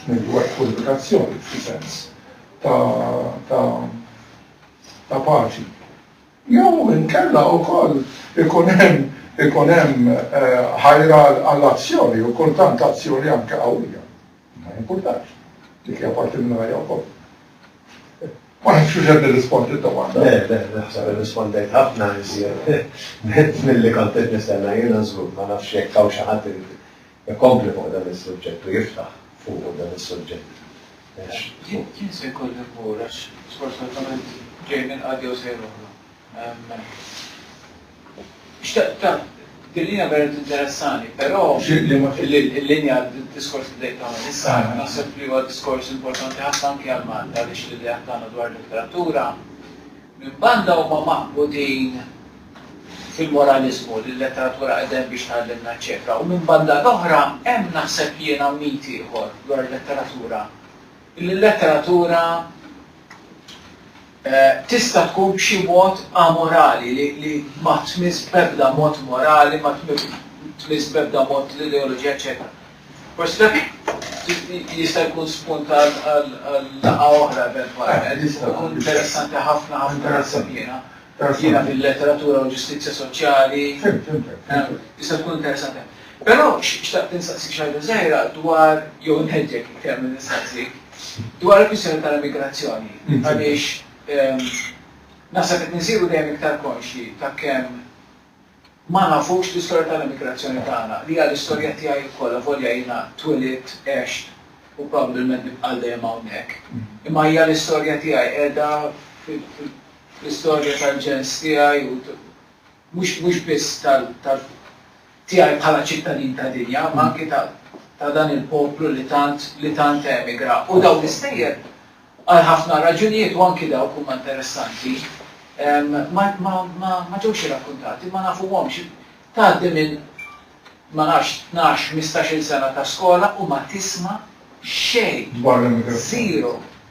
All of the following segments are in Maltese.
Negwat purifikazzjoni, f'xi sens, ta' paċi. Jew inkella wkoll ikun hemm ikun hemm eh, ħajra għall-azzjoni u kultant azzjoni anke qawwija. Ma jimpurtax. Dik hija parti minn ħajja wkoll. Ma nafx xi qed nirrispondi d-domanda. Le, le, naħseb irrispondejt ħafna iżjed mill-li kont qed nistenna jiena żgur, ma nafx jekk hawn xi ħadd Ikompli fuq dan is-suġġett u jiftaħ fuqu dan is-suġġett. Jien se jkolli mmur għax sfortunatament ġej minn qagħda jew sejr oħra. Xtaqt tant, din hija vera tinteressani, però l-linja d-diskors li bdejt tagħmel issa naħseb li huwa diskors importanti ħafna anki għal Malta għaliex l-ideat tagħna dwar il-letteratura minn banda huma magħqudin fil-moraliżmu li l-letteratura qed hemm biex tgħallimna ċċekka u minbanda l-oħra hemm naħseb jiena mit ieħor dwar il-letteratura illi l-letteratura tista' tkun b'xi mod amorali li li ma tmiss b'ebda mod morali ma tmiss b'ebda mod l-ideoloġija eċċetera. Forsi dak jista' jkun spunt għal laqgħa oħra eventwalment. Ikun interessanti ħafna ħafna naħseb jiena. Jiena fil-letteratura u l-ġustizzja soċjali. Fhimt, fhimtek. Jista' tkun interessanti. Però xtaqt insaqsik xi ħaġa żgħira dwar, jew inħeġġek iktar milli nsaqsik, dwar il-kwistjoni tal-immigrazzjoni. Għaliex naħseb qed nsiru dejjem iktar konxji ta' kemm ma nafux l-istorja tal-immigrazzjoni tagħna, li hija l-istorja tiegħi wkoll, avolja jiena twilidt, għext u probabbilment nibqa' għal dejjem hawnhekk. Imma hija l-istorja tiegħi qiegħda fil-, L-istorja tal-ġens tiegħi u mhux mhux biss tal tal tiegħi bħala ċittadin ta' dinja, imma anki ta' ta' dan il-poplu li tant li tant emigra. U dawn l-istejjer għal ħafna raġunijiet u anki dawk huma interessanti ma ma ma ma ġewx irrakkuntati, ma nafuhomx. Tgħaddi minn ma nafx tnax, ħmistax-il sena ta' skola u ma tisma' xejn. Dwar l-emigrazzjoni. Zero.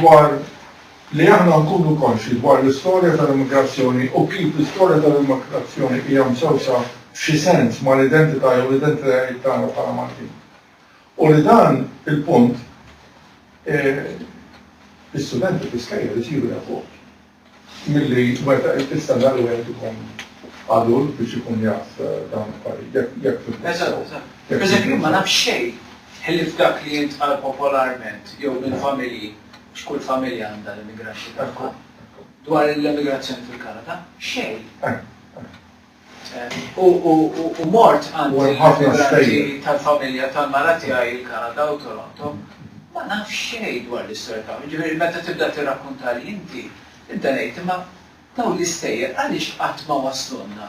dwar li aħna nkunu konxji dwar l-istorja tal-immigrazzjoni u kif l-istorja tal-immigrazzjoni hija msewsa f'xi sens mal-identità jew l-identitajiet tagħna bħala Maltin. U li dan il-punt l-istudenti fl-iskejjel isiru jafuh. Milli wettaq il-fissa nhar wieħed ikun adult biex ikun jaf dawn l-affarijiet, jekk jekk fimtek sew. Eżatt, eżatt. Pereżempju jien ma nafx xejn ħlief dak li jintqal popolarment jew minn familji, għax kull familja għandha l-immigraxxi tagħha, dwar l-emigrazzjoni fil-Kanada. Xejn. U mort għand il-migranti tal-familja tal-mara tiegħi il-Kanada u Toronto, ma nafx xejn dwar l-istorja tagħhom. Jiġifieri meta tibda tirrakkuntali inti, nibda ngħid imma dawn l-istejjer għaliex qatt ma waslulna?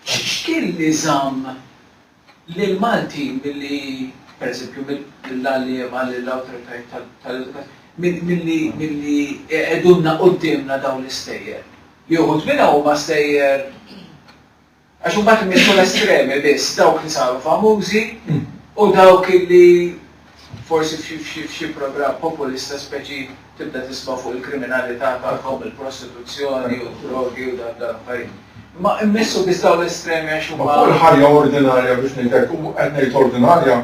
X'kien li żamm lill-Malti milli, pereżempju, lill-għalliema, lill-awtoritajiet tal-edukazzjoni, milli jqegħdulna quddiemna dawn l-istejjer, li uħud minnhom huma stejjer għax imbagħad imissu l-estremi biss, dawk li saru famużi u dawk li, Forsi f'xi programm populista speċi tibda tisma' fuq il-kriminalità tagħhom, il-prostituzzjoni u d-drogi u dawk l-affarijiet. Imma immissu biss dawn l-estremi għax huma. Ma fuq il-ħajja ordinarja biex ngħid hekk, u qed ngħid ordinarja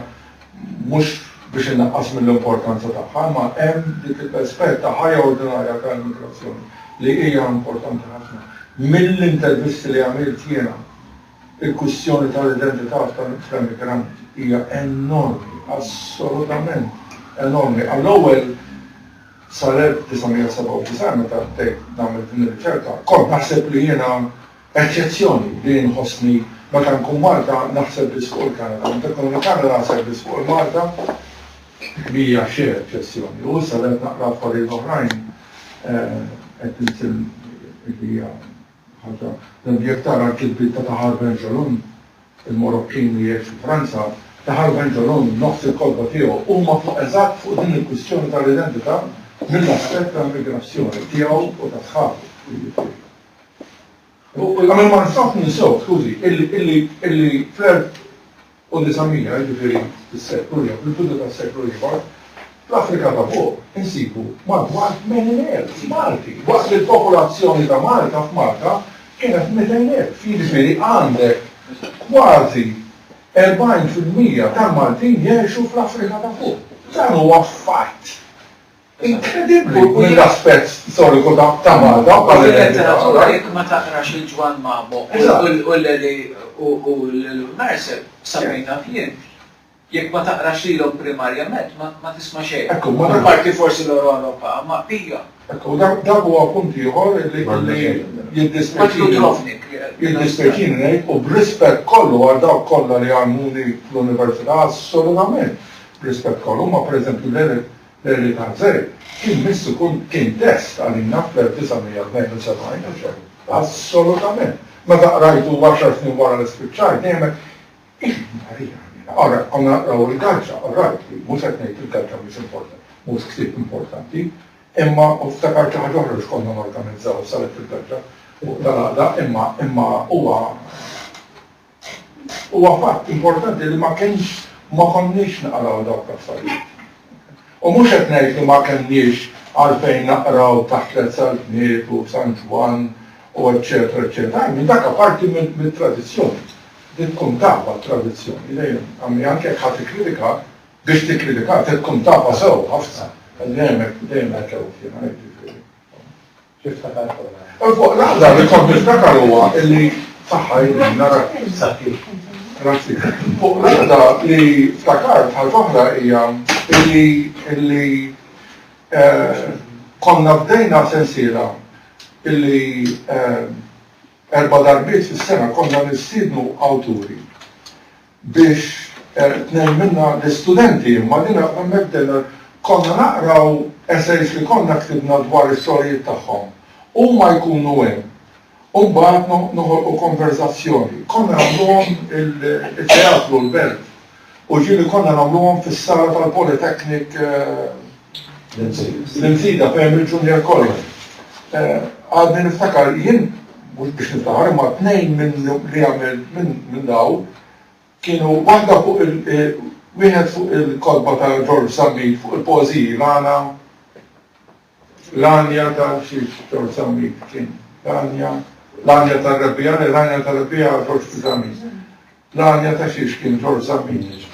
mhux biex innaqqas mill-importanza tagħha, imma hemm dik il-aspett ta' ħajja ordinarja ta' immigrazzjoni li hija importanti ħafna. Mill-intervisti li għamilt jiena Il-kwistjoni tal-identità fl-emigrant hija enormi, assolutament enormi. Għall-ewwel, sal-1997 meta bdejt nagħmel din ir-riċerka, kont naħseb li jiena eċċezzjoni li jien nħossni meta nkun Malta naħseb biss fuq il-Kanada, meta nkun il-Kanada naħseb biss fuq il-Malta li hija xejn eċċezzjoni. U issa li qed naqra affarijiet oħrajn qed nisimgħu li hija Ħaġa li jekk tara l-kitbiet ta' Tahar Benjelloun, il-Morokkin li jgħix fi Franza, Tahar Benjelloun nofs il-kotba tiegħu huma fuq eżatt fuq din il-kwistjoni tal-identità mill-aspett tal-migrazzjoni tiegħu u ta' sħabu, jiġifieri. U ma nistax ninsewh, skużi, illi fl-. u 900, jiġifieri fis-seklu jew fil-bidu tas-seklu ieħor, fl-Afrika ta' Fuq insibu madwar 80,000 Malti, waqt li l-popolazzjoni ta' Malta f'Malta kienet 200,000. Jiġifieri għandek kważi 40 fil-mija tal-Maltin jgħixu fl-Afrika ta' Fuq. Dan huwa fatt. Inkredibbli l-aspett storiku ta' Malta bħala identità. Fil-letteratura jekk ma taqrax lil Ġwann Mamo u Leli u lil Mercer, sa fejn naf jien, jekk ma taqrax lilhom primarjament ma tisma' xejn. Apparti forsi Loro Loro Pa, ma hija. Ekku, dak huwa punt ieħor li jiddispjaċini ngħid u b'rispett kollu għal dawk kollha li għallmuni fl-Università, assolutament b'rispett kollu, imma pereżempju Leli, Perry Tanzeri kien miss ikun kien test għalina fl-1972 u xejn, assolutament. Meta qrajtu għaxar snin wara li spiċċajt dejjem għedt, Iva, Marija Ħniena, ara, konna naqraw il-Gazzetta, orajt li, mhux qed ngħid il-Gazzetta mhix importanti, mhux ktieb importanti, imma u ftakart xi ħaġa oħra li x'konna norganizzaw s-Salett fil-Gazzetta fuq tal-Għaqda, imma imma huwa Huwa fatt importanti li ma kienx, ma konniex naqraw dawk l-affarijiet. U mhux qed ngħid li ma kellniex għalfejn naqraw taħt tliet Saltniet u San Ġwann u eċċetera eċċetera. Anzi, dak aparti mit-tradizzjoni. Dik tkun tafha t-tradizzjoni dejjem. Għalli anke jekk ħa tikkritika, biex tikkritika trid tkun tafha sew ħafna. Dejjem hekk, dejjem hekk għedt jiena, hekk jiġifieri. U fuq l-għada li kont niftakar huwa illi saħħa jien nara sakki. Grazzi. Fuq l-għada li ftakart ħaġa oħra hija illi illi eh, konna bdejna sensiela illi eh, erba darbiet fis-sena konna nistidnu awturi biex tnejn minnha l-istudenti, imma din hemmhekk konna naqraw essays li konna ktibna dwar is-sorijiet tagħhom. Huma jkunu hemm u mbagħad noħolqu konverżazzjoni. Konna nagħmluhom it-teatru l-belt u ġieli konna nagħmluhom fis-sala tal-Polytechnic L-insida fejn il-Junior College. Għadni niftakar jien mhux biex niftakar imma tnejn minn li għamel minn daw kienu waħda fuq il wieħed fuq il-kotba ta' George Zammit fuq il-poeżiji l-għana l-għanja ta' xi George Zammit kien l-għanja l-għanja tar-Rebbiegħa l-għanja tar-Rebbiegħa George Zammit l-għanja ta' xiex kien George Zammit.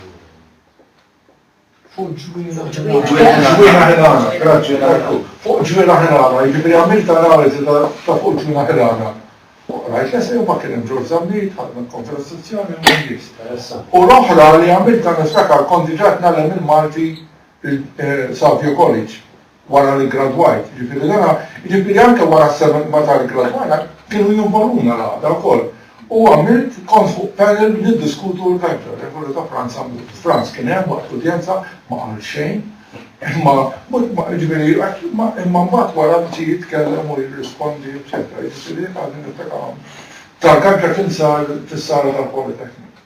Fuq ġwieħa ħilana. Ġwieħa ħilana, grazzi Marku. Fuq ġwieħa ħilana, jiġifieri għamilt analiżi ta' fuq ġwieħa ħilana. Rajt l-esej u ma kien hemm Ġorġ Zammit, ħadd minn Konfederazzjoni u minn nies. U l-oħra li għamilt niftakar kont diġà qed ngħallem il-Malti Savio College. wara li ggradwajt, jiġifieri dana, jiġifieri anke wara s-seba' meta ggradwajna kienu jinvoluna l-għaqda wkoll. U għamilt, kont fuq panel niddiskutu l-Belġa, regola ta' Franza mhu. Franz kien hemm waqt l-udjenza, ma qal xejn, imma jiġifieri imma mbagħad wara bdiet jitkellem u jirrispondi eċċetera, jiġifieri dak għadni niftakar hawn. Tal-Belġa kien sar fis-sala tal-Polytechnic.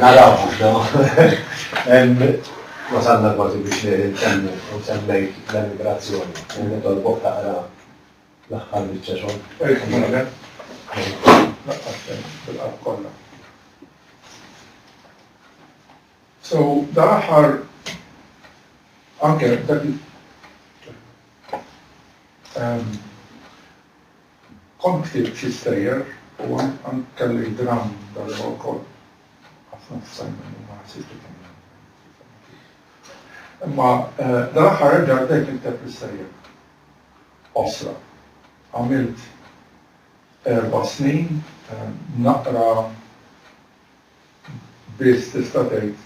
Naraw mhux wasalna kważi biex ntemmu u semmejt l-emigrazzjoni. Nitolbok taqra l-aħħar biċċa xogħol. So, dan aħħar anke Kont ktibt xi stejjer u anke kellek dramm dal-logħba wkoll. Ħafna tista' jmorru u ma jħassibx li kien hemm Imma dal-aħħar reġgħet bdejt nikteb l-istejjer qosra. Għamilt erba' snin naqra biss tista' tgħid.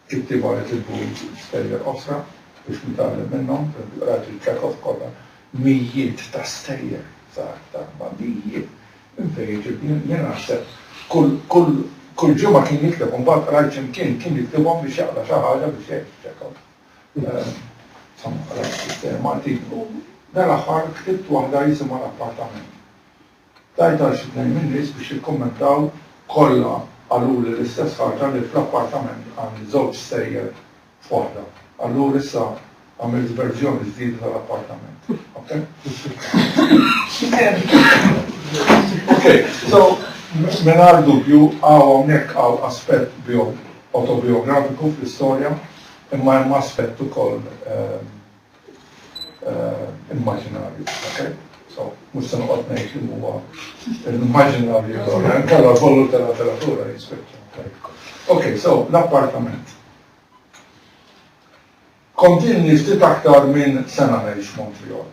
It-tieba nitolbuhom iġibu stejjer oħra biex nitgħallem minnhom, pereżempju qrajt li Chekhov kollha mijiet ta' stejjer żgħar ta' kbar, mijiet, minn fejn iġib? Jien naħseb kull kull kull ġimgħa kien jikteb u mbagħad qrajt xi mkien kien jiktibhom biex jaqra xi ħaġa biex jgħix Chekhov. Insomma qrajt ftit artiklu, dal-aħħar ktibt waħda jisimha L-Appartament Tajt għal xi tnejn min-nies biex jikkummentaw, kollha qaluli l-istess ħaġa li fl-appartament għandi żewġ stejjer f'waħda. Allura issa għamilt verżjoni ġdida tal-appartament. Ok. Mingħajr dubju hawn hawnhekk hawn aspett autobiografiku fl-istorja, imma hemm aspett ukoll immaġinarju, ok? So, mux se noqgħod ngħid li huwa immaġinarju allura nkella kollu tal-apparatura jispiċċa. Ok, so l-appartament. Kontinni ftit aktar minn sena ngħix Montreal.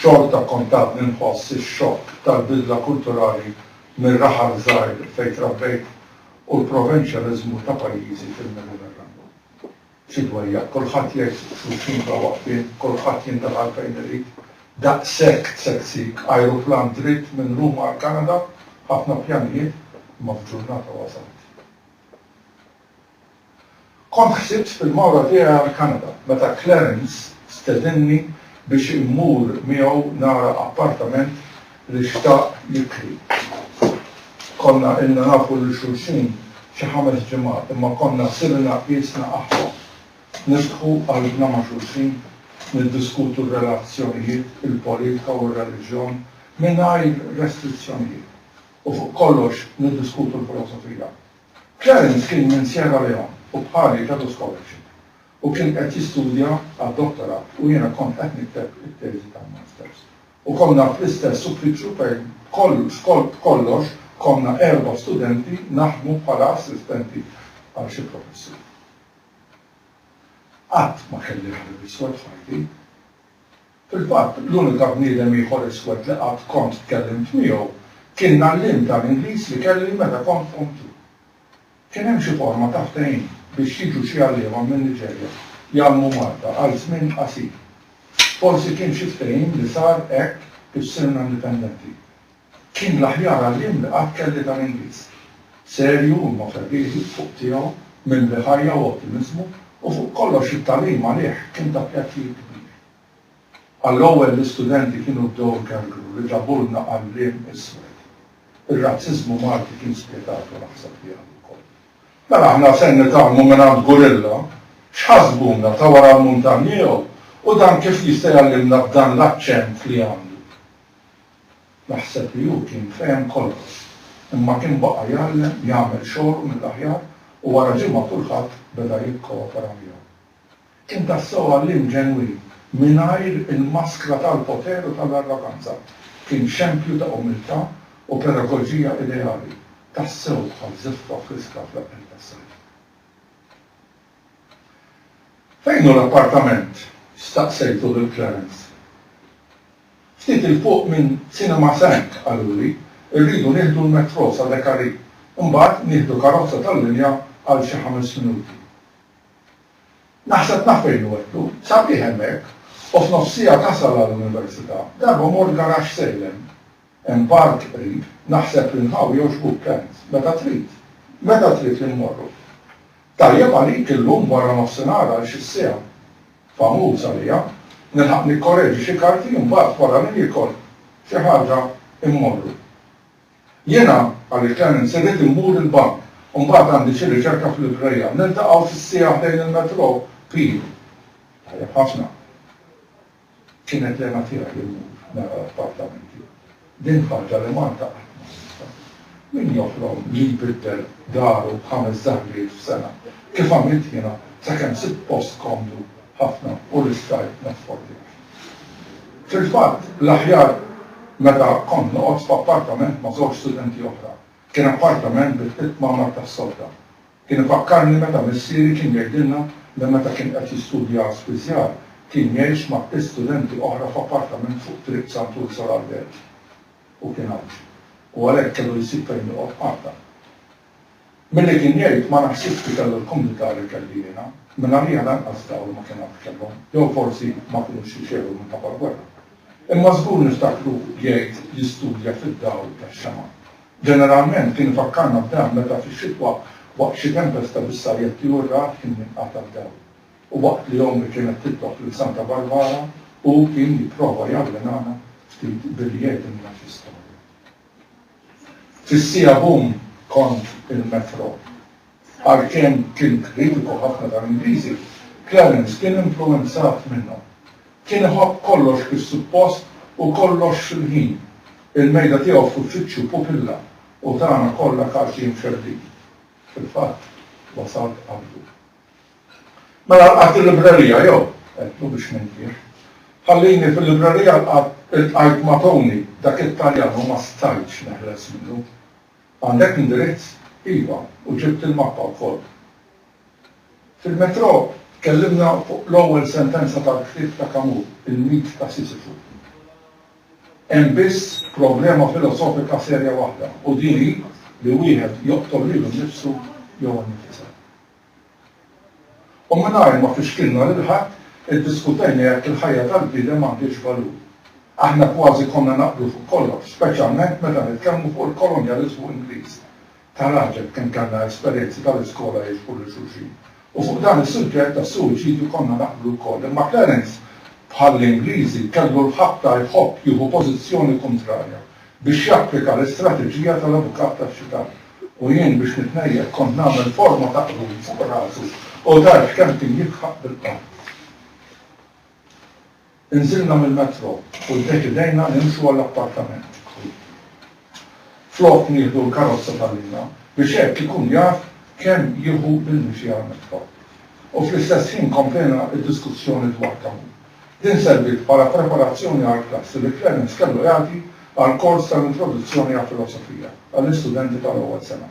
Xorta kontat ninħoss ix-xokk tal-bidla kulturali mir-raħal żgħir fejn trabbejt u l-provinċjaliżmu ta' pajjiżi fil-Mediterran. Xi dwejjaq, kulħadd jgħix xulxin bla waqfien, kulħadd jintaqal fejn irid. Daqshekk tsegsiq, ajruplan dritt minn Ruma għall-Kanada, ħafna pjanijiet, imma f'ġurnata wasalt. Kont ħsibt fil-mawra tiegħi għall-Kanada meta Clarence stedinni biex immur miegħu nara appartament li xtaq jikri. Konna ilna nafu lil xulxin xi ħames ġimgħat imma konna sirna qiesna aħwa. Niftħu qalbna ma' xulxin, niddiskutu r-relazzjonijiet, il-politika u r-reliġjon mingħajr restrizzjonijiet u fuq kollox niddiskutu l-filosofija. Clarence kien minn Sierra Leone u bħali kellu scholarship u kien qed jistudja għad-dottorat u jiena kont qed nikteb it-teżi tal-masters. U konna fl-istess uffiċċju fejn kollox kont kollox konna erba' studenti naħdmu bħala assistenti għal xi professur. Qatt ma kelli ħabib iswed f'ħajti. Fil-fatt, l-unika bniedem ieħor iswed li qatt kont tkellimt miegħu kien l-għalliem tal-Ingliż li kelli meta kont Form Two. Kien hemm xi forma ta' ftehim biex jiġu xi għalliema min-Niġerja jgħallmu Malta għal żmien qasir. Forsi kien xi ftehim li sar hekk kif sirna indipendenti. Kien l-aħjar għalliem li qatt kelli tal-Ingliż. Serju, imma ferrieħi, fuq tiegħu, mimli ħajja u ottimiżmu, u fuq kollox it-tagħlim għalih kien ta' pjaċir kbir. Għall-ewwel l-istudenti kienu bdew ikemmru li ġabulna għalliem iswed. Ir-razziżmu Malti kien spjetat u naħseb li għad ukoll. Mela aħna ser nitgħallmu mingħand gurilla? X'ħasbuna, ta' wara l-muntanja jew? U dan kif jista' jgħallimna b'dan l-aċċent li għandu? Naħseb li hu kien fehem kollox, imma kien baqa' jgħallem, jagħmel xogħlu mill-aħjar u wara ġimgħa kulħadd beda jikkoopera miegħu. Kien tassew għalliem ġenwin, mingħajr il-maskra tal-poter u tal-arroganza. Kien xempju ta' umiltà u pedagoġija ideali, tassew bħal żiffa friska fl-aqqen tas-sajf. Fejn hu l-appartament? staqsejtu lil Clarence. Ftit 'il fuq minn Cinema Cinq, qaluli. Irridu nieħdu l-metro sa Decari. Imbagħad nieħdu karozza tal-linja għal xi ħames minuti. Naħseb naf fejn hu għedlu, sabiħ hemmhekk, u f'nofs siegħa tasal għall-università. Darba mort garaxx sejlen. Hemm park qrib, naħseb li nħawi jogħġbuk Kent, meta trid. Meta trid li mmorru? Tajjeb għalik illum wara nofsinhar għal xi siegħa. Famuż għalija. Nilħaq nikkoreġi xi karti u mbagħad wara li niekol xi ħaġa mmorru. Jiena, qal il-Canon, se rrid immur il-bank u mbagħad għandi xi riċerka f'librerija. Niltaqgħu fis-siegħa ħdejn il-metro, Pil. Tajjeb ħafna. Kienet l-hena tiegħi li mmur nara l-appartamenti. Din ħaġa li Malta qatt ma sibtha. Min joħlom li jbiddel daru b'ħames żahriet f'sena, kif għamilt jiena, sakemm sibt post komdu? ħafna u rissajt ma tfordix. Fil-fatt, l-aħjar meta kont noqgħod f'appartament ma' żewġ studenti oħra. Kien appartament bi tliet kmamar tas-solda. Kien ifakkarni meta missieri kien jgħidilna li meta kien qed jistudja għas-spiżjar kien jgħix ma' tliet studenti oħra f'appartament fuq Triq Sant Ursol għall-Belt. Hu kien Għawdxi u għalhekk kellu jsib fejn joqgħod qatta. Milli kien jgħid, ma naħsibx li kellu l-kumdità li kelli jiena, mingħajrija lanqas dawl ma kien għad kellhom, jew forsi ma kinux jixegħlu minħabba l-gwerra. Imma żgur niftakruh jgħid jistudja fid-dawl tax-xemgħa. Ġeneralment kien ifakkarna b'dan meta fix-xitwa waqt xi tempesta bis-sajjetti u r-ragħad kien jinqata' d-dawl, u waqt li ommi kienet titlob lil Santa Barbara u hu kien jipprova jawwinana ftit billi jgħidilna xi storja. Fis-siegħa bum kont il-metro. Għalkemm kien kritiku ħafna tal-Ingliżi, Clarence kien influwenzat minnhom. Kien iħobb kollox kif suppost u kollox fil-ħin. Il-mejda tiegħu f'uffiċċju pupilla u tagħna kollha kaxi imxerrdin. Fil-fatt, wasalt qablu. Mela lqajt il-librerija jew? għedtlu biex nintieh. Ħallini fil-librerija ltqajt ma' Tony, dak it-Taljan u ma stajtx neħles minnu. Għandek l-indirizz? Iva, u ġibt il-mappa wkoll. Fil-metro tkellimna fuq l-ewwel sentenza tal-ktieb ta' Camus, Il-Mit ta' Sisifu. Hemm biss problema filosofika serja waħda u din hi li wieħed joqtol lilu nnifsu jew innifisha. U mingħajr ma fixkilna lil ħadd, iddiskutejna jekk il-ħajja tal-bniedem għandhiex valur. Aħna kważi konna naqblu fuq kollox, speċjalment meta nitkellmu fuq il-kolonjaliżmu Ingliż. Tagħraġeb kemm kellna esperjenzi tal-iskola jiġbru lil xulxin! U fuq dan is-suġġett tas-suwiċidju konna naqblu wkoll. Imma Clarence, bħall-Ingliżi, kellu l-ħabta jħobb jieħu pożizzjoni kuntrarja, biex japplika l-istrateġija tal-avukat tax-xitan. u jien biex nitnejjel kont nagħmel forma ta' qrun fuq rasu u dar f'kemm kien jidħaq bil-qann. Inżilna mill-metro u ddeċidejna nimxu għall-appartament. Flok nieħdu l-karozza ta' Lina biex hekk ikun jaf kemm jieħu bil-mixi għall-metro. U fl-istess ħin komplejna d-diskussjoni dwar Camus. Din serviet bħala preparazzjoni għall-klassi li Clemens kellu jagħti għall-kors tal-Introduzzjoni għall-Filosofija għall-istudenti tal-ewwel sena.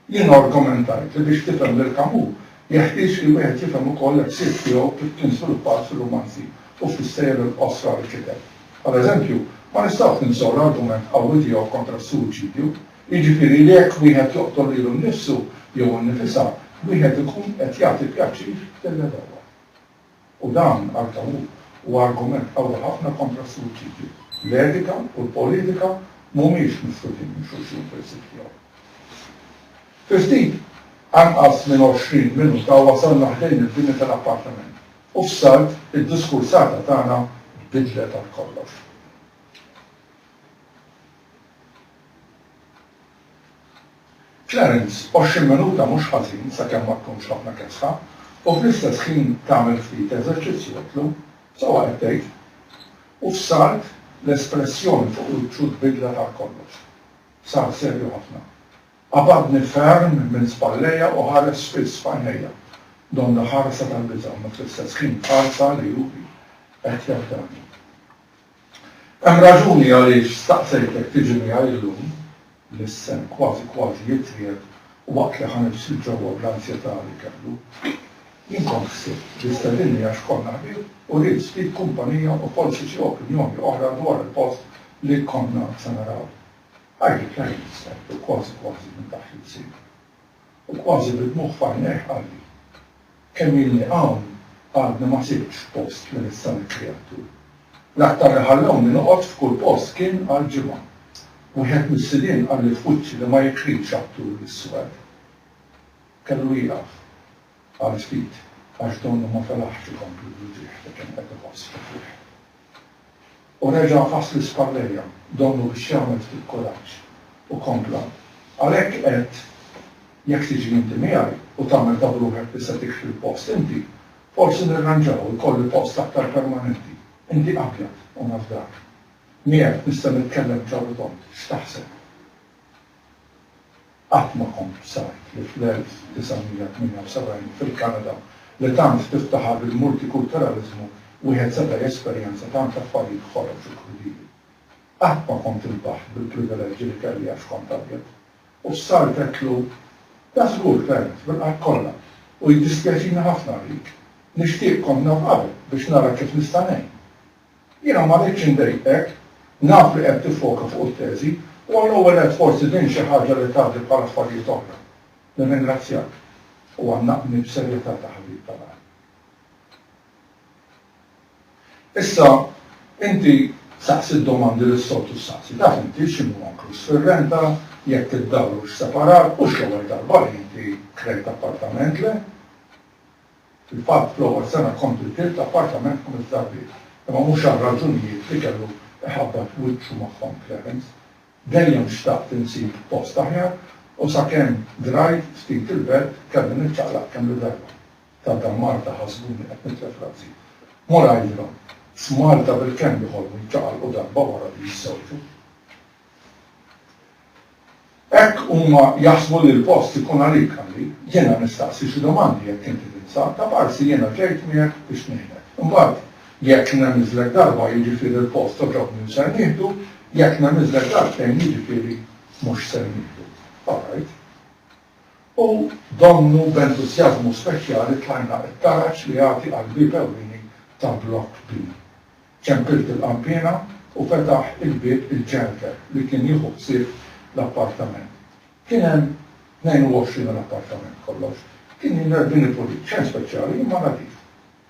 Jiena argomentajt li biex tifhem lil Camus jeħtieġ li wieħed jifhem ukoll il-ħsieb tiegħu kif kien żviluppat fir-rumanzi u fis-sejjer il-qosra li kiteb. Għal eżempju, ma nistgħux ninsew l-argument qawwi tiegħu kontra s-suwiċidju, jiġifieri li jekk wieħed joqtol lilu nnifsu jew innifisha, wieħed ikun qed jagħti pjaċir lill-għedewwa. U dan, għal Tawwur, huwa argument qawwi ħafna kontra s-suwiċidju. L-etika u l-politika mhumiex misħutin minn xulxin fil-psikija. Fi ftit anqas minn 20 minuta wasalna ħdejn il-bini tal-appartament u f'salt id-diskursata tagħna tbiddlet għal kollox. Clarence, 20 minuta mhux ħażin sakemm ma tkunx ħafna kesħa u fl-istess ħin tagħmel ftit eżerċizzju għedtlu, Sewwa qed tgħid. U f'salt l-espressjoni fuq wiċċu tbiddlet għal kollox. Sar serju ħafna. Qabadni ferm minn spallejja u ħares spiss f'għajnejja. Donna ħarsa tal-biża' imma fl-istess ħin ħarsa li hu qed jafdani. Hemm raġuni għaliex staqsejtek tiġi miegħi illum, l-issen kważi kważi jitjieb u waqt li ħa nibs 'il ġewwa bl-anzjetà li kellu. Jien kont ħsibt li stedinni għax konna ħbieb u ridt ftit kumpanija u forsi xi opinjoni oħra dwar il-post li konna se naraw. Għidli kemm int stett u kważi kważi minn taħt l-ilsien. U kważi bid-dmugħ f'għajnejh qalli. Kemm ilni hawn għadni ma sibtx post minn issa li tlieqtu. L-aktar li ħallewni noqgħod f'kull post kien għal ġimgħa. Wieħed mis-sidien qalli f'wiċċi li ma jikrix attur l-iswed. Kellu jieqaf għal ftit għax donnu ma felaħx ikompli bl-uġigħ li kien qed iħoss fi fih. U reġa' għafas l-ispallerja, donnu biex jagħmel ftit kuraġġ, u kompla, Għalhekk għedt, jekk tiġi inti miegħi, u tagħmel ta' b'ruħek li se tikxfi l-post inti, forsi nirranġaw u jkolli post aktar permanenti, inti abjad, u naf dak. Miegħek nista' nitkellem ċar u tond, x'taħseb? Qatt ma kont b'sajt li fl-1978 fil-Kanada li tant tiftaħar bil-multikulturaliżmu wieħed seta' jesperjenza tant affarijiet ħorox u krudili. Qatt ma kont inbaħt bil-privileġġi li kelli għax kont abjad. U s-sar għedtlu, Da żgur, Clarence, bil-qalb kollha, u jiddispjaċini ħafna għalik. Nixtieq kont naf qabel biex nara kif nista' ngħin. Jiena ma rridx indejqek, naf li qed tiffoka fuq it-teżi, u għall-ewwel nett forsi din xi ħaġa li tgħaddi bħal affarijiet oħra. Nirringrazzjak, u għannaqni b'serjetà ta' ħabib ta' l-għar. Issa, inti saqsi d-domandi li s-soltu ssaqsi. Taf inti x'inhu inkluż fir-renta, jekk id-dahar hux separat, mhux l-ewwel darba li inti krejt appartament, le? Fil-fatt, fl-ewwel sena kompli bniet l-appartament ħames darbiet, imma mhux għar-raġunijiet li kellu jħabbat wiċċu magħhom Clarence. Dejjem xtaqt insib post aħjar u sakemm grajt ftit il-belt kelli niċċaqlaq kemm-il darba. Ta' dan Malta ħasbuni qed nitlef rażi. Mur għidilhom, f'Malta bilkemm joħolmu jċaqalqu darba wara li jiżżewġu. Hekk huma jaħsbu li l-post ikun għalik, qalli. Jiena nistaqsi xi domandi jekk inti tinsab, ta' parsi jiena ġejt miegħek biex ngħinek. Imbagħad jekk nemiżlek darba jiġifieri l-post għoġobni u ser nieħdu, jekk nemiżlek darbtejn jiġifieri mhux ser nieħdu. All right. U donnu b'entusjażmu speċjali tlajna t-taraġ li jagħti għall-bieb ewlieni ta' Blokk B. Ċempilt il-qanpiena u fetaħ il-bieb il-ġenter li kien jieħu ħsieb l-appartament. Kien hemm 22 il-appartament kollox. Kien jidher bini pulit, xejn speċjali, imma nadif.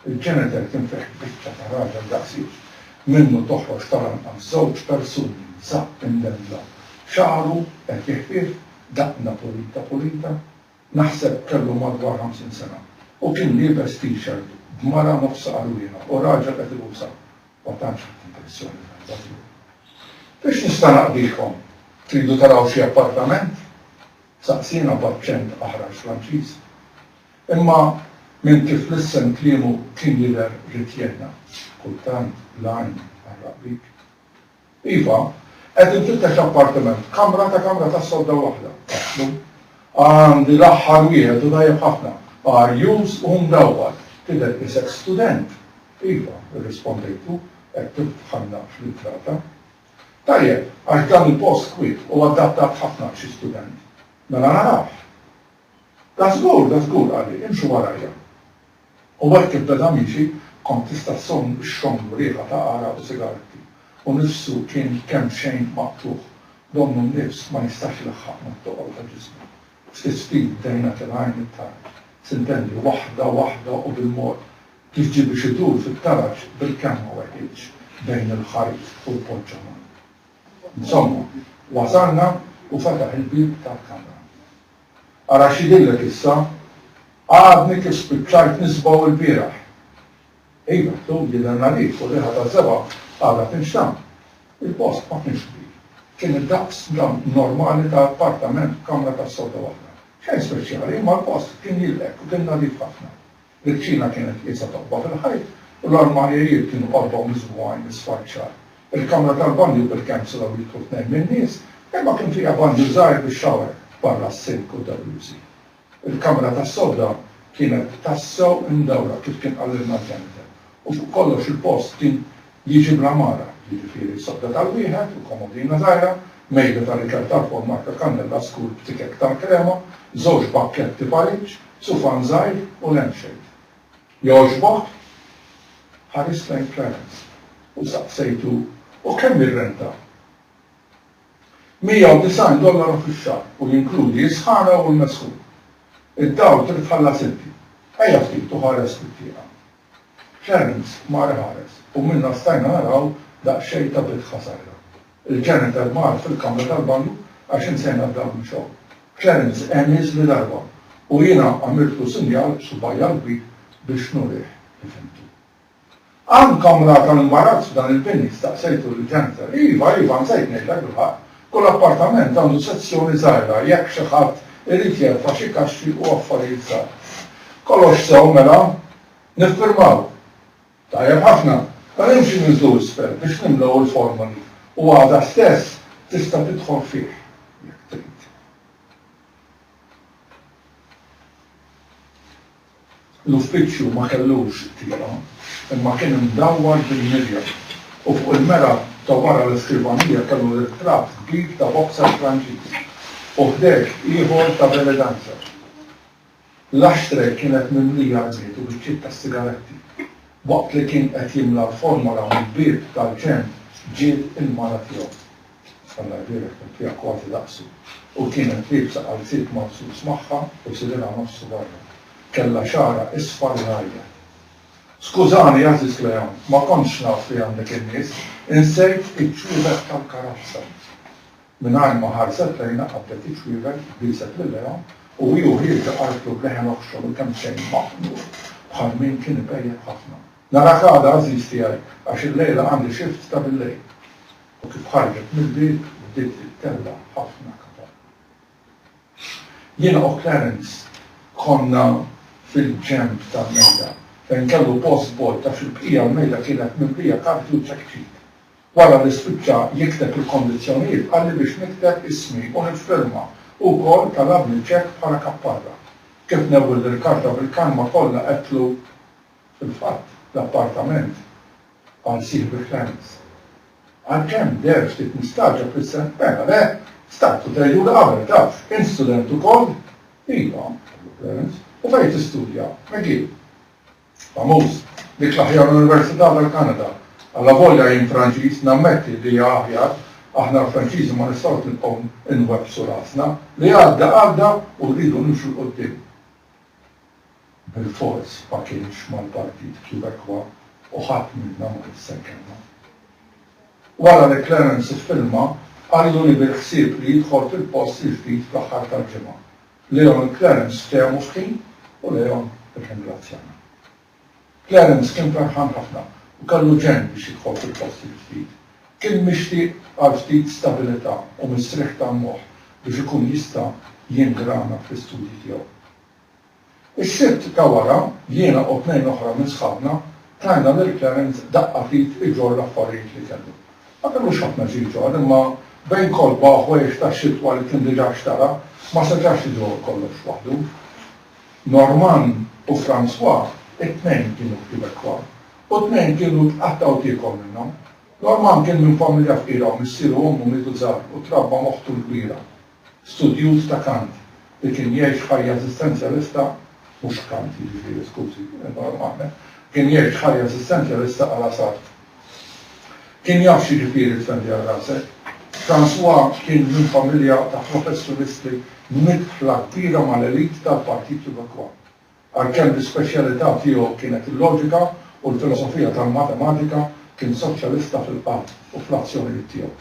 Il-ġeniter kien fih biċċa ta' raġel daqsiex. Minnu toħroġ tal-anqas żewġ persuni, nisa, imdendla. Xagħru qed jiħfief, daqna pulita pulita. Naħseb kellu madwar ħamsin sena u kien liebes t-shirt b'mara nofs qarwriena u raġel qed ibusa. Ma tantx ħadt impressjoni tajba tiegħu. Biex nista' naqdikom, tridu taraw xi appartament? saqsiena b'aċċent aħrax Franċiż. Imma minn kif lissen kliemu kien jidher rid jgħinna. Kultant l-għajn tqarraq bik. Iva, qed infittex appartiment b'kamra ta' kamra tas-sodda waħda. Għandi l-aħħar wieħed u tajjeb ħafna, arjuż u mdawwal. Tidher qisek student. Iva, irrispondejtlu, hekk kif dħalna fl-intrata. Tajjeb, għax dan il-post kwiet u adattat ħafna għal xi student. Mela narawh. Da żgur, da żgur, qalli, imxu warajja. U hekk ibbeda miexi, kont tista' ssomm ix-xomb u riħa ta' għaraq u sigaretti. U nifsu kien kemxejn maqtugħ, donnu n-nifs ma jistax ilaħħaq mat-toqol ta' ġismu. Ftit ftit bdejna tilgħin it-tarġ, s'intendi, waħda waħda u bil-mod, kif ġie biex idur fit-taraġ bil-kemm ma weħilx bejn il-ħajt u l-poġġa mgħand. Insomma, wasalna u fetaħ il-bieb tal-kamra. Ara x'jidhirlek issa? Għadni kif spiċċajt nisbaw ilbieraħ. Iva, ħtu, jidher nadif u r-riħa taz-zebgħa għadha tinxtamm. Il-post ma kienx kbir. Kien id-daqs normali ta' appartament b'kamra tas-sodda waħda. Xejn speċjali, imma l-post kien jilqek u kien nadif ħafna. Il-kċina kienet qiesha taqba' fil-ħajt u l-armarjajiet kienu qorba u miżbugħin isfar ċar. Il-kamra tal-banju bil-kemm setgħu jidħlu tnejn min-nies, imma kien fiha banju żgħir bi shower barra s-sink u d-dallużi. Il-kamra tas-sodda kienet tassew imdawra kif kien qalilna l-ġenitor u fuq kollox il-post kien Jiġi bl-għamara, jiġifieri sodda tal-wieħed u komodina żgħira, mejda ta' rikel tal-fuq marka kannella skur b'tikek tal-krema, żewġ pakketti pariġġ, sufan żgħir u lampshade. Jogħġbok? Ħarist lejn Clarence u saqsejtu, U kemm ir-renta? Mija u disgħin dollaru fix-xahar u jinkludi s-sħana u l-mesħun. Id-dawl trid tħallas inti. Ejja ftit u ħares fit-tieqa. Clarence mar iħares u minna stajna naraw daqsxejn ta' bit ħasajra. Il-janitor mar fil-kamra tal-banju għax insejna d-dawl mixgħul. Clarence għemiż li darba u jiena għamiltlu sinjal b'subgħajja l-kbir biex nurih li fhimtu. Hawn kamra tal-imbarazz f'dan il-bini? staqsejtu lill-janitor. Iva, iva, nsejt ngħidlek bil-ħaqq, Kull appartament għandu sezzjoni żgħira jekk xi ħadd irid jerfa' xi kaxxi u affarijiet żgħar. Kollox sew mela? Niffirmaw? Tajjeb ħafna. Mela imxi ninżlu isfel biex nimlew il-formoli u għada stess tista' tidħol fih jekk trid. L-uffiċċju ma kellux tieqa, imma kien imdawwar bil-mirja, u fuq il-mera ta' wara l-iskrivanija kellu ritratt kbir ta' boxer Franċiż, u ħdejh ieħor ta' belly dancer. L-ashtray kienet mimlija rmied u biċċiet tas-sigaretti. Waqt li kien qed jimla l-formola mill-bieb tal-ġenb ġiet il-mara tiegħu. Salla l-bieraħ kont fiha kważi daqsu u kienet liebsa qalziet maqsus magħha u sidirha nofsu barra. Kellha xagħarha isfar u ngħajjet. Skużani, għażiż Cleon, ma kontx naf li għandek in-nies, insejt iċ-ċwievet tal-karozza. Mingħajr ma ħarset lejna qabdet iċ-ċwievet, bieset lil Leon u hi u ħieġa qaltlu b'leħen oħxon u kemmxejn maħnuk bħal min kien ipejjep ħafna, Narak għada għażiż tiegħi għax illejla għandi shift ta' billejl. U kif ħarġet mill-bieb bdiet tittella' ħafna kapaħ. Jiena u Clarence konna fil-ġenb tal-mejda fejn kellu post bogħod għax il-bqija l-mejda kienet mimlija karti u ċekċik. Wara li spiċċa jikteb il-kondizzjonijiet qalli biex nikteb ismi u niffirma u wkoll talabni ċekk bħala kapparra. Kif newwil lill-karta bil-kalma kollha għedtlu, Fil-fatt, l-appartament, qal sieħbi Franz, għalkemm deher ftit mistagħġab fis-seħħ, mela le, stajt u dejju li qabel, taf, int student ukoll? Iva, qallu Franz, u fejn tistudja? McGill. Famuż, dik l-aħjar università tal-Kanada. Allavolja jien Franċiż, nammetti li hija aħjar, aħna l-Franċiżi ma nistgħux nibqgħu nwebbsu rasna. Li għadda, għadda u rridu nimxu 'l quddiem. Bilfors ma kienx mal-Partit Quebecois u ħadd minna ma kien se jkellmu. Wara li Clarence iffirma, qallu li bil-ħsieb li jidħol fil-post il-ġdid fl-aħħar tal-ġimgħa. Leon u Clarence ftehmu f'ħin u Leon irringrazzjana. Clarence kien ferħan ħafna u kellu ġenn biex jidħol fil-post il-ġdid. Kien mixtieq għal ftit stabilità u mistrieħ tal-moħħ biex ikun jista' jingrana fl-istudji tiegħu. Is-Sibt ta' wara, jiena u tnejn oħra minn sħabna tajna lil Clarence daqqa f'id iġorr l-affarijiet li kellu. Ma kellux ħafna xi jġorr, imma bejn kotba u ħwejjeġ tax-xitwa li kien diġà xtara, ma setax iġorr kollox waħdu. Norman u Francois it-tnejn kienu Quebecois u t-tnejn kienu tqattgħu tiekom minnhom. Norman kien minn familja fqira u missieru u ommu mietu żgħar u trabba m'oħtu l-kbira, studjuż ta' kant, li kien jgħix ħajja eżistenzjalista, mhux kant jiġifieri skużi, Norman, kien jgħix ħajja eżistenzjalista għal Asarthe. Kien jaf x'jiġifieri tfendi għal rasek. François kien minn familja ta' professjonisti midħla kbira mal-elite tal-Partit Québécois. Għalkemm l-ispeċjalità tiegħu kienet il-loġika u l-filosofija tal-matematika, kien soċjalista fil-qalb u fl-azzjonijiet tiegħu.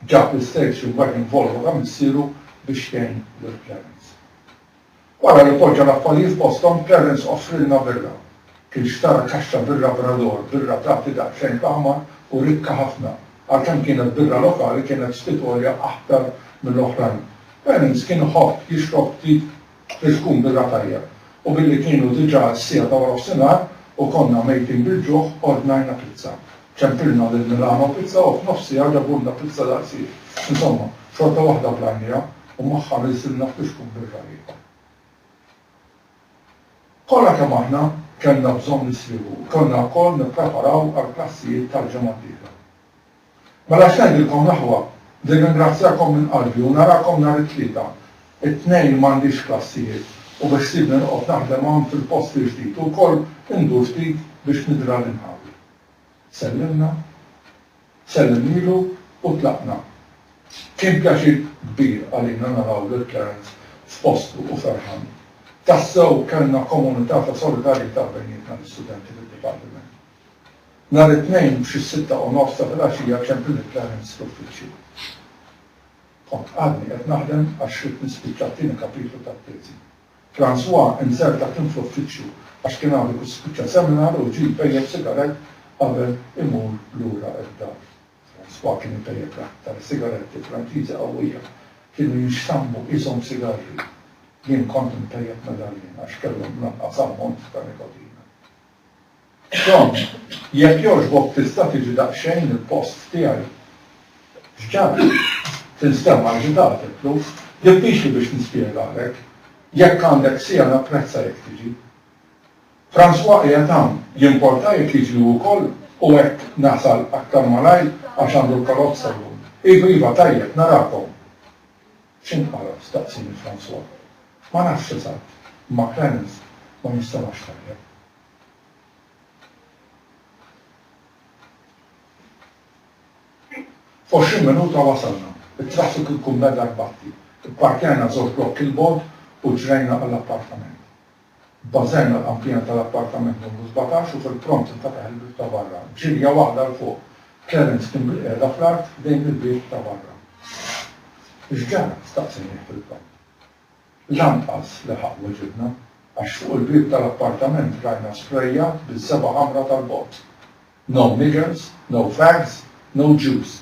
Ġab l-isterzju mbagħad jinvolva ta' missieru biex jgħin lil Clarence. Wara li poġġa l-affarijiet posthom, Terence offrilna birra. Kien xtara kaxxa birra Brador, birra tagħti daqsxejn taħmar u rikka ħafna. Għalkemm kienet birra lokali, kienet ftit għolja aħtar mill-oħrajn. Terence kien iħobb jixrob ftit biex tkun birra tajjeb, u billi kienu diġà s-siegħa ta' warofsinhar u konna mejtin bil-ġuħ, ordnajna pizza. Ċempilna lil Milano Pizza u f'nofsiha ġabulna pizza daqsiex. Insomma, xorta waħda b'lajnija u magħha ħrisilna ftit xkun bir-ragħib. Kollha kemm aħna kellna bżonn nisrieħu u kellna wkoll nippreparaw għall-klassijiet tal-ġimgħa d-dieħla. Mela x'ngħidilkom l-aħwa, nirringrazzjakom minn qalbi u narakom nhar it-Tlieta. It-Tnejn m'għandix klassijiet u beħsiebni noqgħod naħdem hawn fil-post il-ġdid u wkoll indur ftit biex nidhra lil ħawi. Sellimna, sellimnielu u tlaqna. Kien pjaċir kbir għalina naraw lil Clarence f'postu u ferħan. Tassew kellna komunità ta' solidarjetà bejnietna l-istudenti fid-dipartiment. Nhar it-Tnejn f'xis-sitta u nofs ta' filgħaxija ċemplini Clarence l-uffiċċju. Kont għadni qed naħdem għax ridt nispiċċa t-tieni kapitlu tat-teżi. Francois inżel taħt in fl-uffiċċju għax kien għadu kif spiċċa seminar u ġie jpejjep sigarett qabel imur lura d-dar. Francois kien ipejjep l-aktar sigaretti Franċiżi qawwija. Kienu jinxtammu qishom sigarri. Jien kont inpejjep medaljen għax kellhom l-anqas ammont ta' nikotina. Tom, jekk jogħġbok tista' tiġi daqsxejn il-post tiegħi? X'ġara? Tinstemma aġitat, għedtlu. Diffiċli biex nispjegalek. Jekk għandek siegħa napprezza jekk tiġi. François qiegħed hawn, jimporta jekk jiġi hu wkoll u hekk nasal aktar malajr għax għandu l-karozza llum? Iva, iva, tajjeb, narakom. X'int Għarab? staqsieni François. Ma nafx eżatt, imma Clarens ma jinstemax tajjeb. F'għoxrin minuta wasalna. It-traffiku jkun beda jbatti. Ipparkjajna żewġ blokki 'l bogħod u ġrejna għall-appartament. Bażenna l-qanpiena tal-appartament numru sbatax u fil-pront infetaħ il-bieb ta' barra. Ġirja waħda 'l fuq. Clarence kien bilqiegħda fl-art ħdejn il-bieb ta' barra. X'ġara? staqsieni ħfil-palb. Lanqas leħaq weġibna, għax fuq il-bieb tal-appartament rajna sprejjat biż-żebgħa ħamra tal-bogħod. No niggers, no fags, no Jews.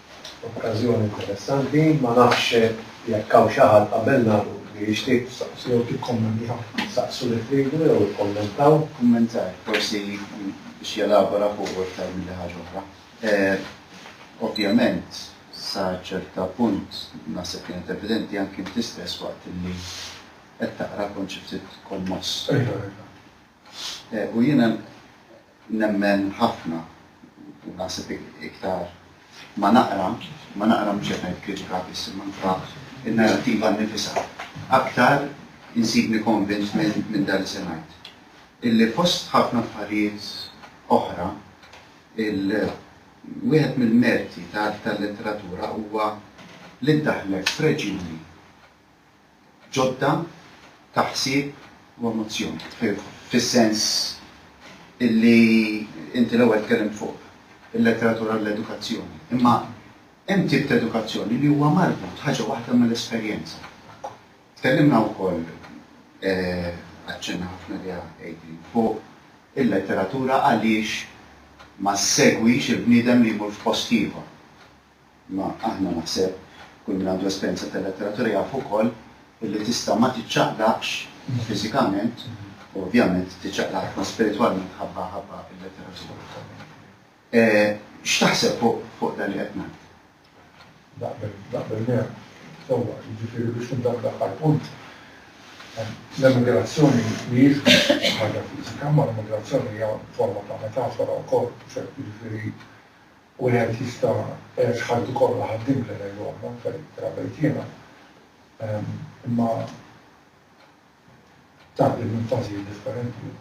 Okkażjoni interessanti, ma nafx jekk hawn xi ħadd qabelna li jixtieq. Saqsu jew tikkommentaw. Saqsu li tridu jew ikkommentaw. Kummentar, forsi biex jelabora fuqu iktar milli ħaġa oħra. Ovvjament, sa ċerta punt, naħseb kienet evidenti anki inti stess waqt li qed taqra kont xi ftit kommoss. U jiena. Nemmen ħafna, u naħseb iktar ma naqra, ma naqra mhux qed ngħid kritika biss imma anke n-narrattiva nnifisha, aktar insibni konvint minn dan li semgħet. Illi fost ħafna affarijiet oħra, il, wieħed mill-merti tal-letteratura huwa li ddaħħlek f'reġjuni ġodda ta' ħsieb u emozzjoni. Fis-sens illi inti l-ewwel tkellimt fuq il-letteratura u l-edukazzjoni. Imma hemm tip ta' edukazzjoni li huwa marbut ħaġa waħda mal-esperjenza. Tkellimna wkoll, aċċenna ħafna għaliha Adrian, fuq il-letteratura għaliex ma ssegwix il-bniedem li jmur f'post ieħor. Imma aħna naħseb kull min għandu esperjenza ta' letteratura jaf ukoll illi tista' ma tiċċaqlaqx fiżikament u ovvjament tiċċaqlaq ħafna spiritwalment ħabba ħabba il-letteratura. X'taħseb fuq dan li qed ngħid? Naqbel, naqbel miegħek. Sewwa, jiġifieri biex nibda bl-aħħar punt, l-emigrazzjoni mhijiex biss ħaġa fiżika, ma l-emigrazzjoni hija forma ta' metafora wkoll, jiġifieri Wieħed jista' jgħix ħajtu kollha ħaddiem li ngħidu aħna affarijiet bħala b'hekk jiena. Imma tgħaddi minn fażijiet differenti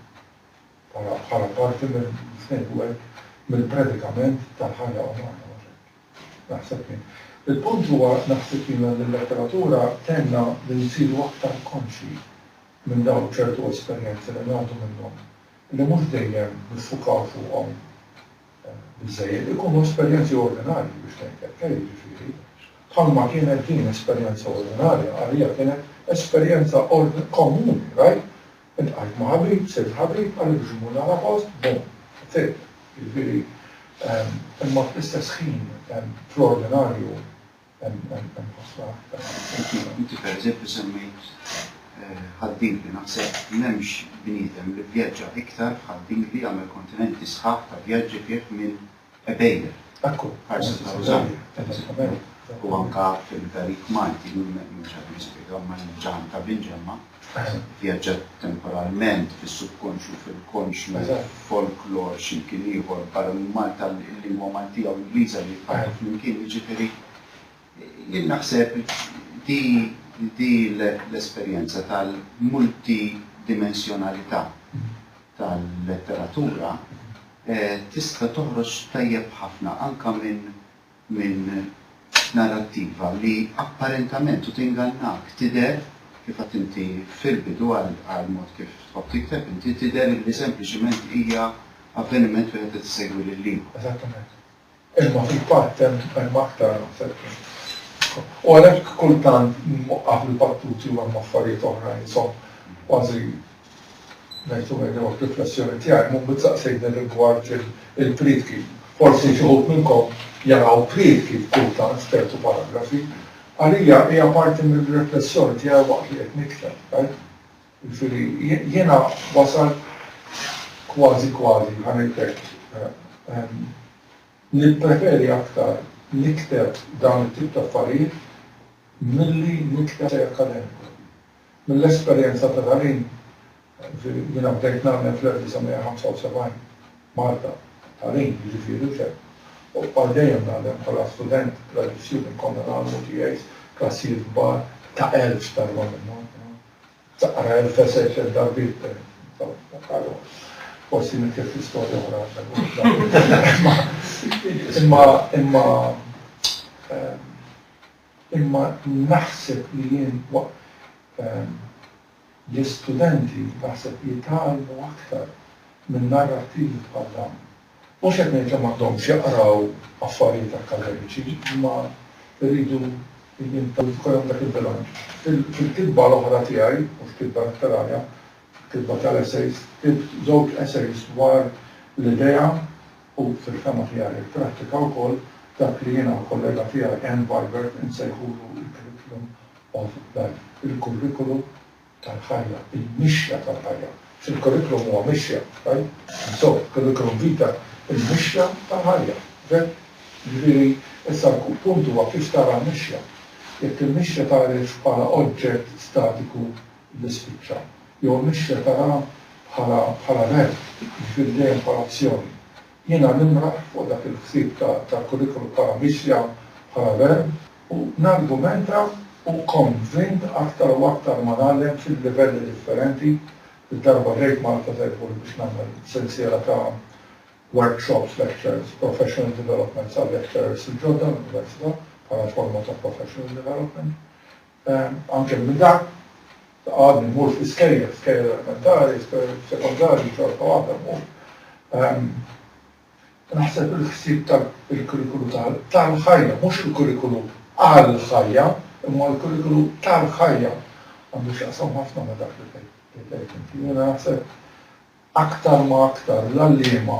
bħala bħala parti minn biex ngħidu hekk mill-predikament tal-ħajja umana mhux hekk? Naħseb jien. Il-punt huwa naħseb jiena li l-letteratura tgħinna li nsiru aktar konxji minn dawn ċertu esperjenzi li ngħaddu minnhom li mhux dejjem niffukaw fuqhom. biżżejjed ikunu esperjenzi ordinarji biex tgħin tgħeqqer, jiġifieri, bħalma kienet din esperjenza ordinarja għalija kienet esperjenza ordn komuni, right? Iltqajt ma' ħabib, sirt ħabib, qal li biex immur nara post, boom, that's it. Jiġifieri, imma fl-istess ħin, fl-ordinarju, Inti pereżempju semmejt ħaddiebli. Naħseb m'hemmx bniedem li vvjaġġa iktar b'ħaddiebli, għamel kontinenti sħaħ ta' vjaġġi fih minn Ebeille, ħarsa ta' Rużanna, pereżempju. U anke fil-Garik Malti, mhux qed nispjega, imma il-ġann ta' Binġemma. Vjaġġat temporalment fis-subkonxju, fil-konxju, f'folklor x'imkien ieħor barra minn Malta, l-lingwa Maltija u Ingliża li jitfarrtu flimkien. Jiġifieri jien naħseb di di l-esperjenza tal-multidimensjonalità tal-letteratura tista' toħroġ tajjeb ħafna anke minn minn narrattiva li apparentament, u tingannak, tidher, kif għedt inti fil-bidu għall-mod kif tħobb tikteb inti, tidher illi sempliċement hija avveniment wieħed qed isegwi lill-ieħor. Eżattament. Imma fil-fatt hemm hemm aktar naħseb minn hekk. U għalhekk kultant nwaqaf il-battuti u hemm affarijiet oħra li nsom kważi Ngħid u ngħid li waħda riflessjoni tiegħi, Mummu tsaqsejtni rigward il-prietki. Forsi xi wħud minnkom jaraw prietki kultant f'ċertu paragrafi. Għalija hija parti mir-riflessjoni tiegħi waqt li qed nikteb, tajb? Jiġifieri jiena wasalt kważi kważi, ħa ngħid hekk, nippreferi aktar nikteb dawn it-tip ta' affarijiet milli nikteb essej akademiku. Mill-esperjenza ta' tagħlim, jiena bdejt ngħallem fl-1975, Malta, tagħlim, jiġifieri l-ikel, u għal dejjem ngħallem bħala student gradisjuni konna ngħallmu TAs, klassijiet kbar ta' elf talba minnhom, taqra elf essay tliet darbiet per eżempju, forsi mittiet l-istorja oħra għax imma Imma naħseb li jien waqt l-istudenti naħseb jitgħallmu aktar minn narrattivi bħal dawn. Mhux qed ngħid li m'għandhomx jaqraw affarijiet akkademiċi, imma jridu jkun hemm dak il-bilanċ. Fil-kitba l-oħra tiegħi, mhux kitba letterarja, kitba tal-essays, ktibt żewġ essays dwar l-idea u fil-fehma tiegħi pprattika wkoll dak li jiena u l-kollega tiegħi Anne Vibert insejħulu l-curriculum of life, il-kurrikulu tal-ħajja, il-mixja tal-ħajja. Il-kurrikulum huwa mixja, right? Insomma, curriculum vita, il-mixja tal-ħajja, okay? Jiġifieri, issa l-punt huwa kif tara l-mixja. Jekk il-mixja tgħarifx bħala oġġett statiku li spiċċa, jew il-mixja tara bħala bħala verb, jiġifieri dejjem bħala azzjoni. Jiena nimraħ fuq dak il-ħsieb ta' tal-kurrikulum bħala mixja bħala verb u nargumenta u konvint aktar u aktar ma ngħallem fil-livelli differenti, il-darba ġejt Malta se jkun biex nagħmel sensiela ta' workshops, lectures, professional developments għal-lecturers il-ġodda l-Università bħala forma ta' professional development. Anke minn dak ta' għadni mmur fl-iskejjel, skejjel elementari, skejjel sekondarji, xorta waħda mmur. Naħseb il-ħsieb ta' il-kurrikulu tal-ħajja, mhux il-kurrikulu għall-ħajja, imma l-kurrikulu tal-ħajja għandu x'jaqsam ħafna ma' dak li tgħid inti. Jiena naħseb Aktar ma aktar l-għalliema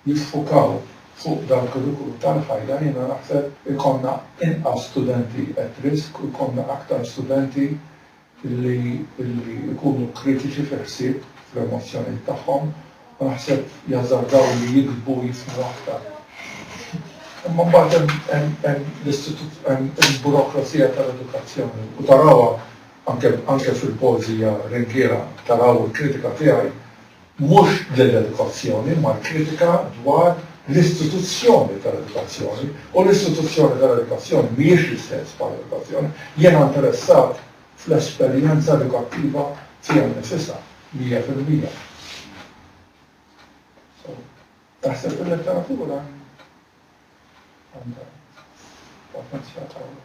jiffukaw fuq dal-kurrikulu tal-ħajja jiena naħseb ikollna inqas studenti at risk u jkollna aktar studenti li li jkunu kritiċi fil-ħsieb fl-emozzjonijiet tagħhom u naħseb jażardaw li jiktbu u jifhmu aktar. Imma mbagħad hemm hemm hemm l-istitu hemm il-burokrazija tal-edukazzjoni u tarawha Anke fil-poeżija Ringhiera taraw il-kritika tiegħi mhux lill-edukazzjoni imma l-kritika dwar l-istituzzjoni tal-edukazzjoni u l-istituzzjoni tal-edukazzjoni mhijiex l-istess bħall-edukazzjoni. Jiena interessat fl-esperjenza edukattiva fija nnifisha, mija fil-mija. So, taħseb il-letteratura għandha potenzjal qawwi.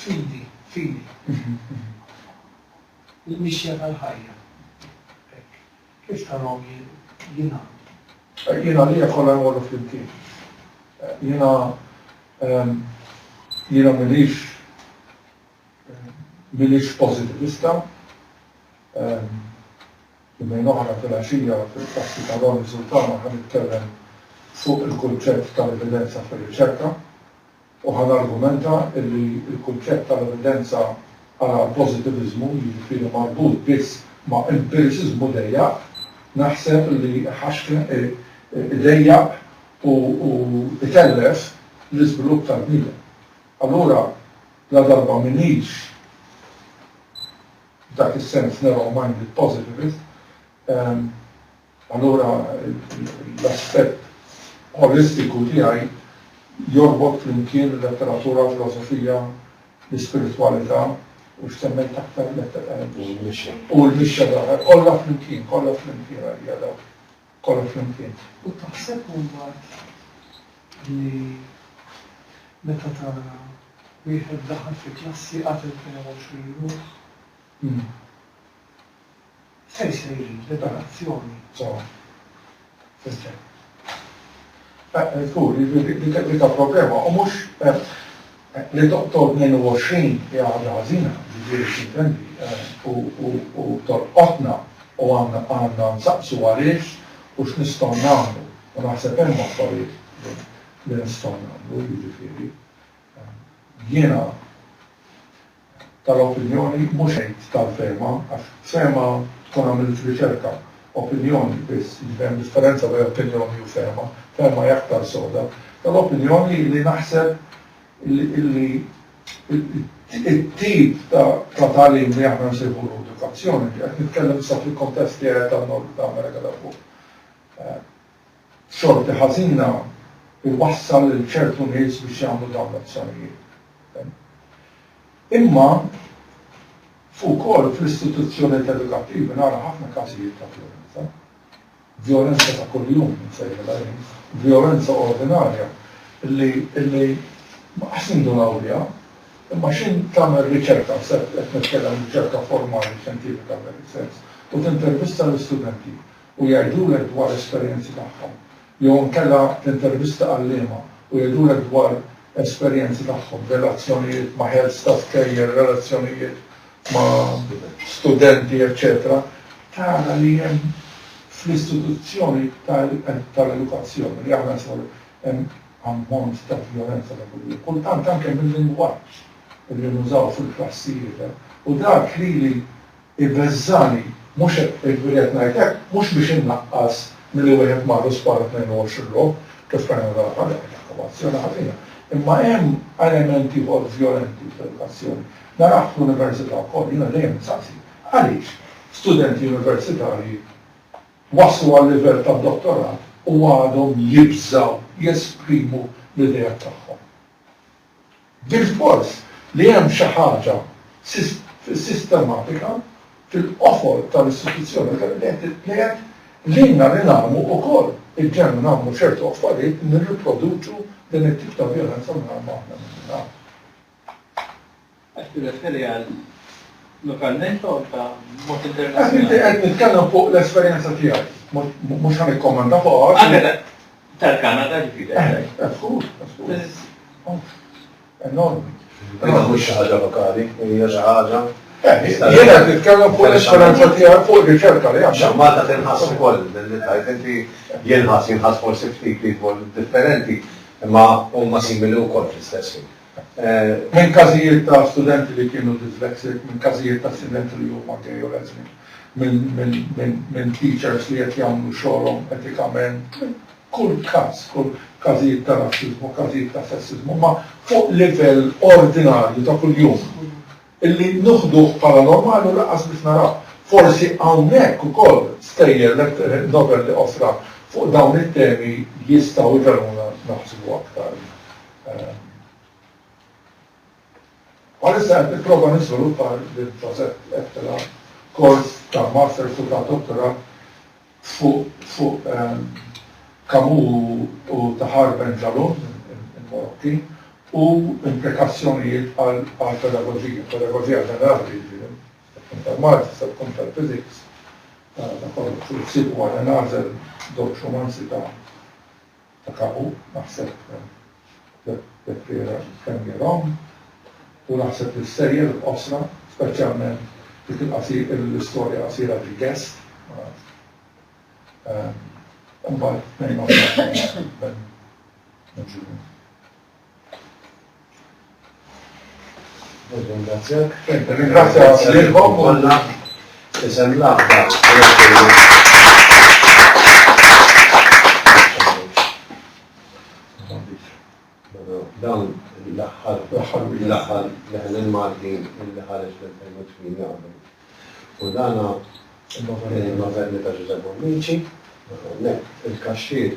Fidi, fidi. Il-mixja tal-ħajja. Hekk. Kif tarahom jingħamlu? Jien għalija kollha jmorru flimkien. Jiena jiena m'iniex m'iniex pożitivista. Jumejn oħra filgħaxija fil-klassi ta' Ronnie Sultana ħa nitkellem fuq il-kunċett tal-evidenza fir-riċerka. u ħa nargumenta li l-kunċett tal-evidenza għala pożitiviżmu, jiġifieri marbut biss ma' empiriċiżmu dejjaq, naħseb li iħaxken, idejjaq u itellef l-iżvilupp tal-bniedem. Allura, ladarba m'iniex f'dak is-sens narrow-minded positivist, Allura l-aspett olistiku tiegħi jorbot flimkien il-letteratura, l-filosofija, l-ispiritwalità u x'semmiet aktar? U l-mixja. U l-mixja tal-ħajja. Kollha flimkien, kollha flimkien għalija dawk. Kollha flimkien. U taħseb hu mbagħad li meta tara wieħed daħal fi klassi qatel 22 ruħ? se jsir liberazzjoni ġewwa fis-sew. Żgur li dika problema u mhux li toqtol 22 hija ħaġa ħażina, jiġifieri x'intendi, u tolqotna u għandna nsaqsu għaliex u x'nistgħu nagħmlu u naħseb hemm affarijiet li nistgħu nagħmlu, jiġifieri jiena, tal-opinjoni mhux għid tal-fehma għax fehma tkun għamilt riċerka, opinjoni biss, jiġifieri hemm differenza bejn opinjoni u fehma, fehma hi aktar soda, tal-opinjoni li naħseb illi it-tip ta' tagħlim li aħna nsejħulu edukazzjoni, qed nitkellem issa fil-kuntest tiegħi tan-Nord u ta' Amerika ta' Fuq. xorti ħażina jwassal lil ċertu nies biex jagħmlu dawn l-azzjonijiet. Imma ukoll fl-istituzzjonijiet edukattivi nara ħafna każijiet ta' vjolenza. Vjolenza ta' kuljum, nsejħilha jien, vjolenza ordinarja li li ħsindu nawliha, imma x'in tagħmel riċerka, qed nitkellem riċerka formali xjentifika f'dan is-sens, u tintervista lill-istudenti, u jgħidulek dwar esperjenzi tagħhom, jew inkella tintervista għalliema u jgħidulek dwar esperjenzi tagħhom, relazzjonijiet ma' heads ta' skejjel, relazzjonijiet ma' studenti, eċċetera Tara li hemm fl-istituzzjoni tal-edukazzjoni li aħna nsibu hemm ammont ta' vjolenza ta' kuljum, kultant anke mil-lingwaġġ li nużaw fil-klassijiet, u dak lili Ibeżżagħni, mhux hekk, li qed ngħid hekk mhux biex innaqqas milli wieħed marru sparu 22 logħob kif kien hemm l-għalqa dak kien ħakku b'azzjoni ħażina. Imma hemm element ieħor vjolenti fl-edukazzjoni. Narah fl-università wkoll. Jiena dejjem insaqsi, għaliex studenti universitarji waslu għal-livell tad-dottorat u għadhom jibżgħu jesprimu l-ideat tagħhom? Diskors li hemm xi ħaġa sistematika fil-qofol tal-istituzzjoni Ewropea li qed lilna li nagħmlu wkoll il-ġenn u nagħmlu ċertu affarijiet li nirriproduċu din it-tip ta' vjolenza mingħajr ma aħna nindunawh. Qed tirreferi għal lokalment jew anke b'mod internazzjonali? Qed nitkellem fuq l-esperjenza tiegħi, mhux ħa nikkommenta fuqha. Tal-Kanada ġifieri. Eh, żgur, żgur. Enormi. Imma mhux xi ħaġa lokali, hija xi ħaġa. Eh, jiena qed nitkellem fuq l-esperanza tiegħek fuq riċerka li għandha. Malta tinħass ukoll li tajt inti jinħass jinħass forsi ftit ieħor differenti, imma huma simili wkoll fl-istess ħin. minn każijiet ta' studenti li kienu dyslexic, minn każijiet ta' studenti li huma gay u lesbian, minn teachers li qed jagħmlu xogħolhom etikament, minn kull każ, każijiet ta' rassiżmu, każijiet ta' sessiżmu, imma fuq livell ordinarju ta' kuljum. Illi nuħduh bħala normali u lanqas biss naraw. Forsi hawnhekk ukoll stejjer novel li qosra fuq dawn it-temi jistgħu jgħinuna naħsbu aktar. Bħalissa qed nipprova niżviluppa lil Ġosep Ettela kors ta' Masters u ta' Dottorat fuq Camus u Tahar Ben Jalloun, il-Marokki, u implikazzjonijiet għall-pedagoġija, pedagoġija ġenerali jiġifieri, tista' tkun tal-Malti, tista' tkun tal-Physics, ta' kollox, u ssib ukoll, Għena Għażel żewġ rumanzi ta' ta' kapu, naħseb Pereira kemm hi wrong u naħseb li s-sejjer qosra, speċjalment dik il-qasi, l-istorja qasira ġie guest, ma nafx. Imbagħad tnejn oħra minn Ġunju. Nirringrazzjak. Nirringrazzjak lilkom kollha. Isem l-aħbar. dawn l-aħħar tagħhom l-aħħar leħen il-Maltin li ħareġ fil-2008 għamlu. U dana il-Maverni ta' Ġużep Bonnici, il-kaxxir